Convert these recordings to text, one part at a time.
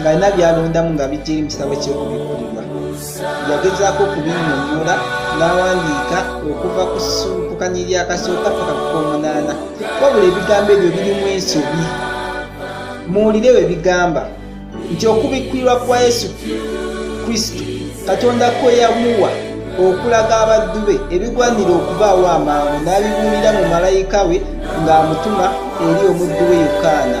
ng'alina by'alondamu nga bijja eri mu kitabo ky'okubikkulirwa yagezaako okubinyonyola n'awandiika okuva ku ssuukukanya eryakasooka paka ku k'omunaana wabula ebigambo ebyo birimu ensobi muwulire we bigamba nti okubikkulirwa kwa yesu kristo katonda kwe yamuwa okulaga abaddu be ebigwanira okubaawo amangu n'abibuulira mu malayika we ng'amutuma eri omuddu we yokaana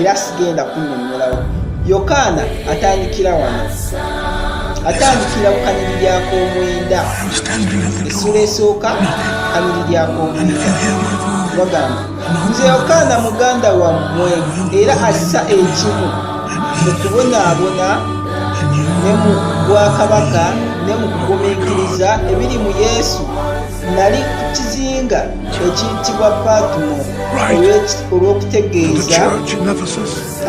era sigenda kunyonnyolawo yokaana atandikira wano atandikira ku kanyiri lyakomwenda essula esooka kanyiri lyakomwenda bagamba nze yokaana muganda wammwe era assa ekimu mu kubonaabona ne mu bwakabaka ne mu kugumiikiriza ebiri mu yesu nali ku kizinga ekiyitibwa patmo olw'okutegeeza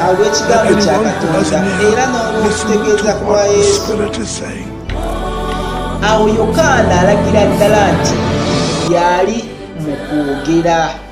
olw'ekigambo kya katonda era n'olw'okutegeeza kwa yesu awo yokaana alagira ddala nti yali mu kwogera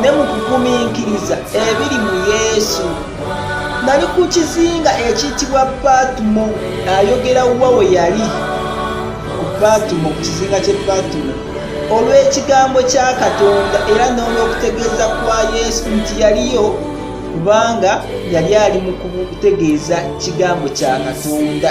ne mu kugumiikiriza ebiri mu yesu nali ku kizinga ekiyitibwa patumo ayogera wa we yali ku patumo ku kizinga kye patumo olw'ekigambo kya katonda era n'olw'okutegeeza kwa yesu nti yaliyo kubanga yali ali mu kutegeeza kigambo kya katonda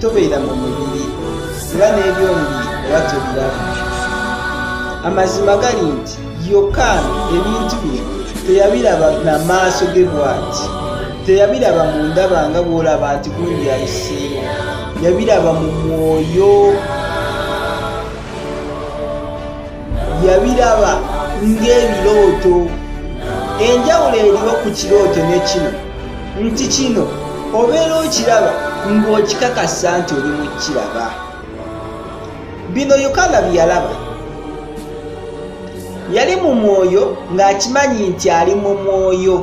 tobeera mu mubiri era n'ebyomubiri oba tebiraba amazima gali nti yokaana ebintu bino teyabiraba na maaso ge bwati teyabiraba mu ndaba nga bw'olaba nti gundi ayiseewo yabiraba mu mwoyo yabiraba ng'ebirooto enjawulo eriwo ku kirooto ne kino nti kino obeera okiraba ng'okikakasa nti oli mu kiraba bino yokaana bye yalaba yali mu mwoyo ng'akimanyi nti ali mu mwoyo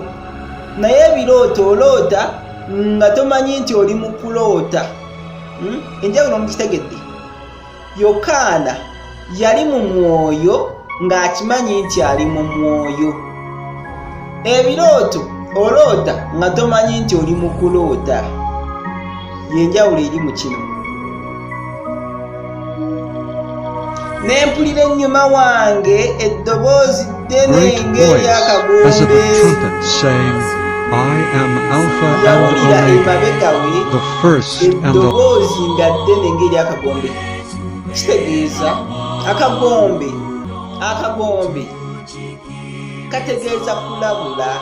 naye ebirooto oloota nga tomanyi nti oli mu kuloota hmm? enjawulo mukitegedde yokaana yali mu mwoyo ng'akimanyi nti ali mu mwoyo ebirooto oloota nga tomanyi nti oli mu kuloota yenjawulo eri mu kino nempulira ennyuma wange eddoboozi great voice as of a trumpet saying, I am Alpha and Omega, the first and the kitegeeza akagombe akagombe kategeeza kulabula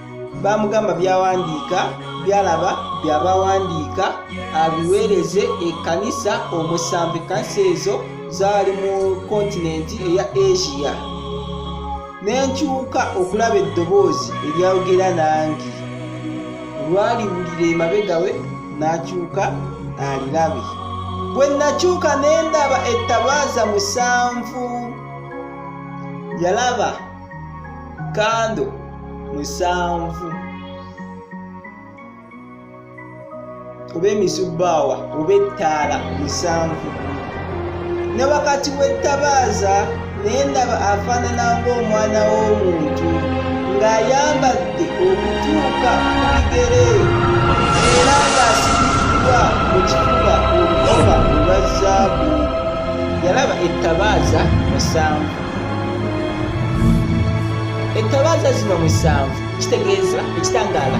bamugamba byawandiika byalaba byabawandiika abiweereze ekkanisa omusanvu ekkanisa ezo zaali mu kontinenti eya asia nenkyuka okulaba eddoboozi eryayogera nange olwaliwulira emabegawe nakyuka alirabe bwe nakyuka nendaba ettabaaza musanvu yalaba kando musanvu oba emisubbaawa oba ettaala musanvu ne wakati w'ettabaaza naye ndaba afaanana ng'omwana w'omuntu ng'ayambadde okutuuka ku bigere era ng'asibiddwa mu kifuba olukoba olwa zaabu yalaba ettabaaza musanvu ettabaaza zino musanvu kitegeeza ekitangaala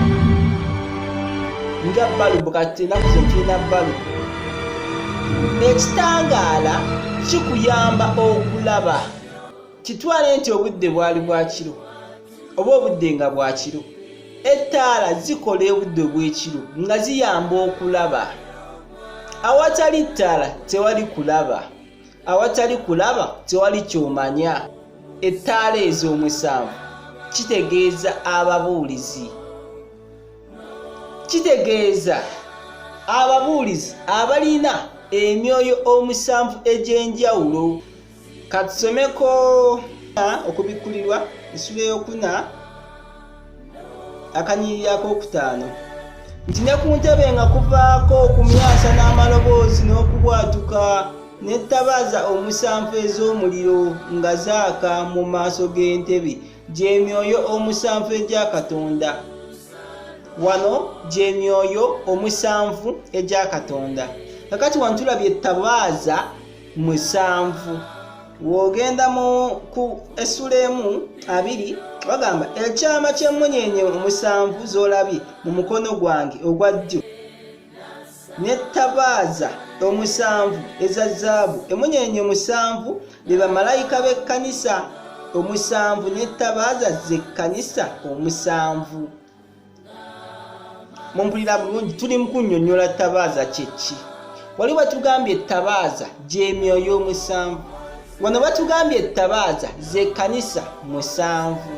nga balubu kati enaku ze tulina balubu ekitangaala kikuyamba okulaba kitwale nti obudde bwali bwakiro oba obudde nga bwakiro ettaala zikola obudde obw'ekiro nga ziyamba okulaba awatali ttaala tewali kulaba awatali kulaba tewali kyomanya ettaala ezo omusanvu kitegeeza ababuulizi kitegeeza ababuulizi abalina emyoyo omusanvu egy'enjawulo katusomeko okubikkulirwa ensula eyokuna akanyiriri akokutaano nti ne ku ntebe nga kuvaako okumyasa n'amaloboozi n'okubwatuka n'ettabaaza omusanvu ez'omuliro nga zaaka mu maaso g'entebe gy'emyoyo omusanvu egya katonda wano gy'emyoyo omusanvu egya katonda kakati wano tulabye ettabaaza musanvu wogenda mu ku essula emu abiri bagamba ekyama ky'emmunyenye omusanvu z'olabye mu mukono gwange ogwa ddyo n'ettabaaza omusanvu eza zaabu emmunyenye omusanvu be bamalayika b'ekkanisa omusanvu n'ettabaaza z'ekkanisa omusanvu mumpulira bulungi tuli mu kunnyonnyola ttabaaza kyeki wali batugambye ettabaaza gy'emyoyo omusanvu wano batugambye ettabaaza z'ekkanisa musanvu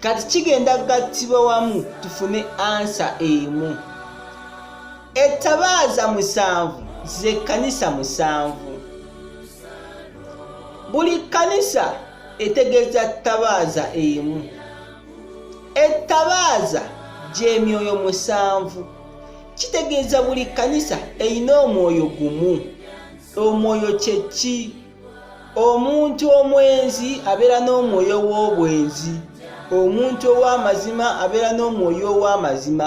kati kigenda gattibwa wamu tufune ansa emu ettabaaza musanvu z'ekkanisa musanvu buli kkanisa etegeeza ttabaaza emu ettabaaza gy'emyoyo musanvu kitegeeza buli kkanisa erina omwoyo gumu omwoyo kye ki omuntu omwenzi abeera n'omwoyo w'obwenzi omuntu ow'amazima abeera n'omwoyo ow'amazima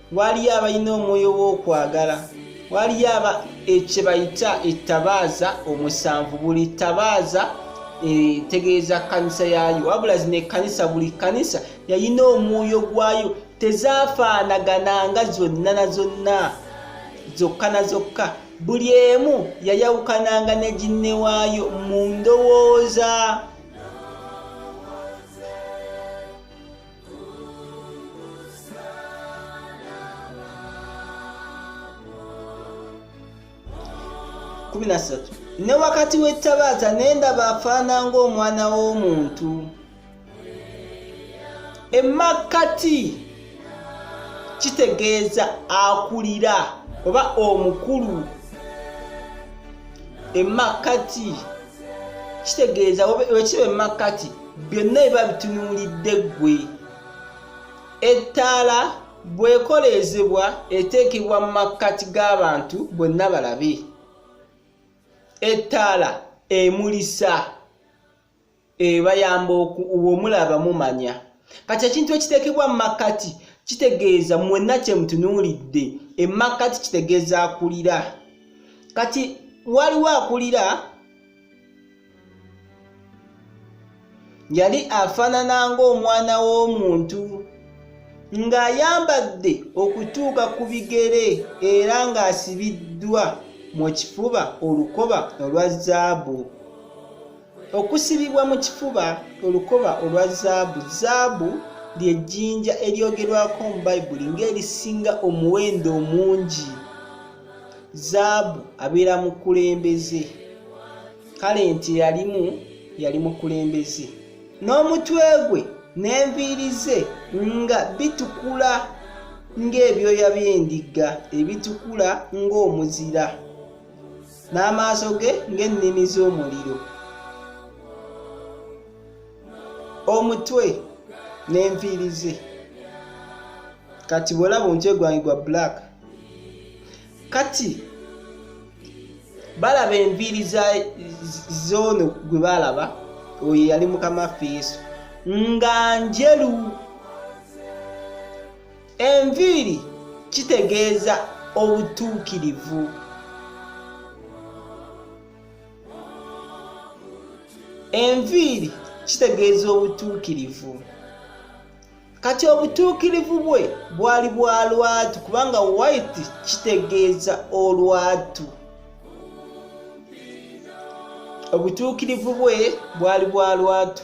waliyo abalina omwoyo w'okwagala waliyo aba ekyebayita ettabaaza omusanvu buli ttabaaza etegeeza kanisa yaayo wabula zino ekkanisa buli kkanisa yalina omwoyo gwayo tezaafaanagana nga zonna na zonna zokka na zokka buli emu yayawukananga ne ginne waayo mu ndowooza kumi na ssatu ne wakati w'ettabaaza ne ndaba afaana ng'omwana w'omuntu emakkati kitegeeza akulira oba omukulu emakkati kitegeeza wekiba emakkati byonna biba bitunuulidde ggwe ettaala bwekoleezebwa eteekebwa mu makkati g'abantu bonna balabe ettaala emulisa ebayamba womulaba mumanya kati ekintu ekiteekebwa mu makkati kitegeeza mwenna kye mutunuulidde emakkati kitegeeza akulira kati waliwo akulira yali afaanana ng'omwana w'omuntu ng'ayambadde okutuuka ku bigere era ng'asibiddwa mu kifuba olukoba olwa zaabu okusibibwa mu kifuba olukoba olwa zaabu zaabu ly'ejjinja eryogerwako mu bayibuli ng'erisinga omuwendo omungi zaabu abeera mukulembeze kale nti yalimu yali mukulembeze n'omutwe gwe n'enviiri ze nga bitukula ng'ebyoya by'endiga ebitukula ng'omuzira n'amaaso ge ng'ennimi z'omuliro omutwe n'enviiri ze kati bw'olaba omutwe gwange gwa black kati balaba enviiri zoono gwe baalaba oyo yali mukama ffe yesu nga njeru enviiri kitegeeza obutuukirivu enviiri kitegeeza obutuukirivu kati obutuukirivu bwe bwali bwa lwatu kubanga white kitegeeza olwatu obutuukirivu bwe bwali bwa lwatu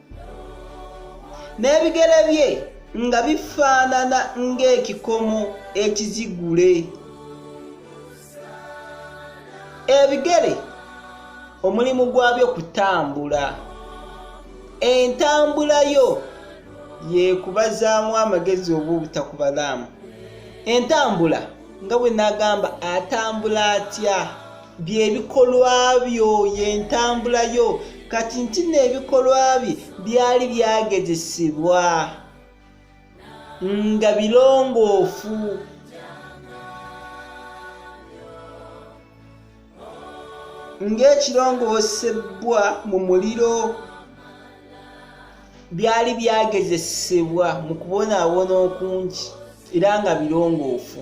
n'ebigere bye nga bifaanana ng'ekikomo ekizigule ebigere omulimu gwabyo kutambula entambula yo yekubazaamu amagezi oba obutakubalaamu entambula nga bwe nagamba atambula atya byebikolwa byo yentambula yo kati nti neebikolwa bye byali byagezesebwa nga birongoofu ng'ekirongoosebwa mu muliro byali byagezesebwa mu kubonaabona okungi era nga birongoofu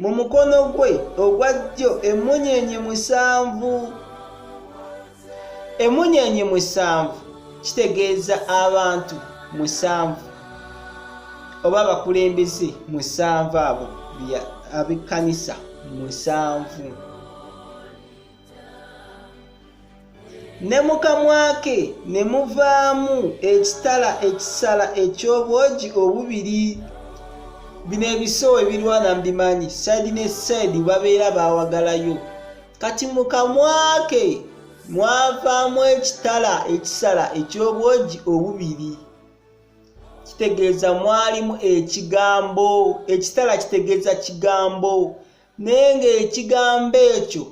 mu mukono gwe ogwa ddyo emmunyeenye musanvu emmunyeenye musanvu kitegeeza abantu musanvu oba abakulembeze musanvu abo abekkanisa musanvu ne mu kamwa ke ne muvaamu ekitala ekisala eky'obwogi obubiri bino ebisewo ebirwana mbimanyi saidi ne saidi babeera bawagalayo kati mu kamwa ke mwavaamu ekitala ekisala eky'obwogi obubiri kitegeeza mwalimu ekigambo ekitala kitegeeza kigambo naye ng'ekigambo ekyo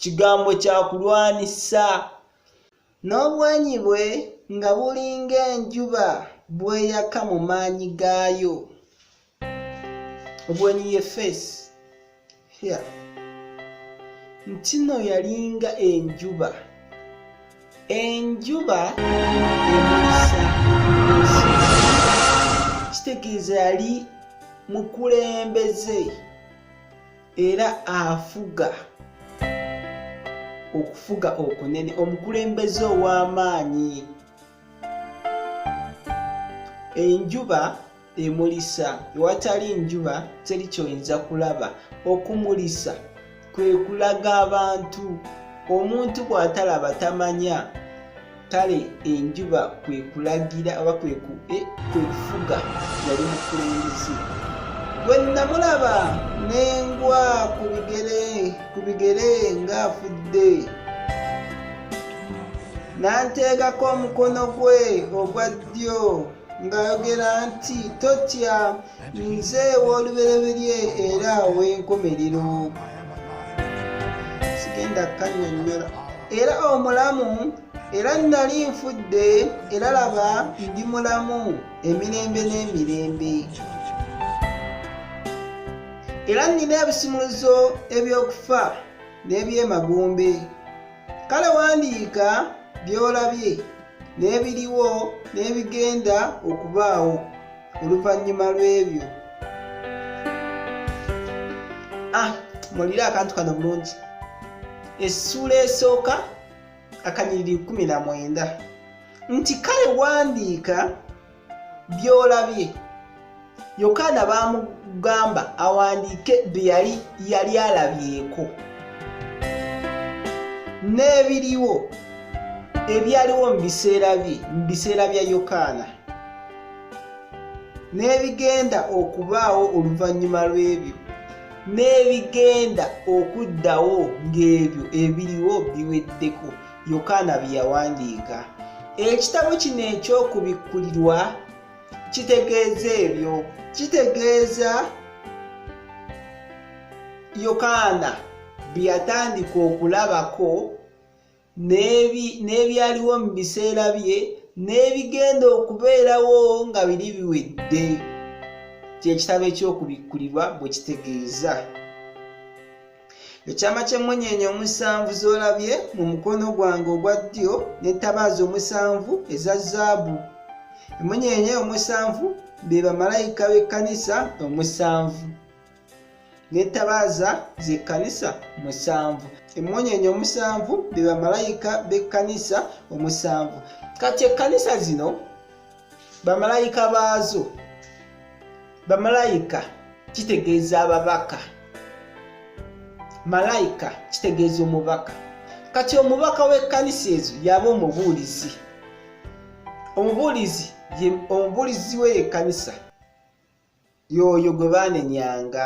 kigambo kya kulwanisa n'obwanyi bwe nga bulinga enjuba bweyaka mu maanyi gaayo obwenyi ye feesi ntino yalinga enjuba enjuba emulisa ensi kitegeeza yali mukulembeze era afuga okufuga okunene omukulembeze ow'amaanyi enjuba emulisa ewatali njuba teri kyoyinza kulaba okumulisa kwe kulaga abantu omuntu bw'atalaba tamanya kale enjuba kwe kulagira oba kwe eh, kufuga yali mukulembeze bwe namulaba n'engwa ku bigere ng'afudde n'anteekako omukono gwe ogwa ddyo ng'ayogera nti totya nze w'olubereberye era ow'enkomerero sigenda kukanyonnyola era omulamu era nnali nfudde era laba ndi mulamu emirembe n'emirembe era nnina ebisimuluzo eby'okufa n'ebyemagombe kale wandiika by'olabye n'ebiriwo n'ebigenda okubaawo oluvannyuma lw'ebyo ah, mulire akantu kano bulungi essuula esooka akanyiriri 19 nti kale wandiika by'olabye yokaana baamugamba awandiike bye yali yali alabyeko n'ebiriwo ebyaliwo mu biseera bye mu biseera bya yokaana n'ebigenda okubaawo oluvannyuma lw'ebyo n'ebigenda okuddawo ng'ebyo ebiriwo biweddeko yokaana bye yawandiika ekitabo kino eky'okubikkulirwa kitegeeza ebyo kitegeeza yokaana bye yatandika okulabako n'ebyaliwo mu biseera bye n'ebigenda okubeerawo nga biri biwedde kyekitabo eky'okubikkulirwa bwe kitegeeza ekyama ky'emmunyeenye omusanvu z'olabye mu mukono gwange ogwa ddyo n'entabaaza omusanvu eza zaabu emmunyeenye omusanvu be bamalayika b'ekkanisa omusanvu n'entabaaza z'ekkanisa musanvu emmunyeenye omusanvu be bamalayika b'ekkanisa omusanvu kati ekkanisa zino bamalayika baazo bamalayika kitegeeza ababaka malayika kitegeeza omubaka kati omubaka w'ekkanisa ezo yaba omubuulizi omubuulizi omubuulizi we yekkanisa yooyo gwe baanenyanga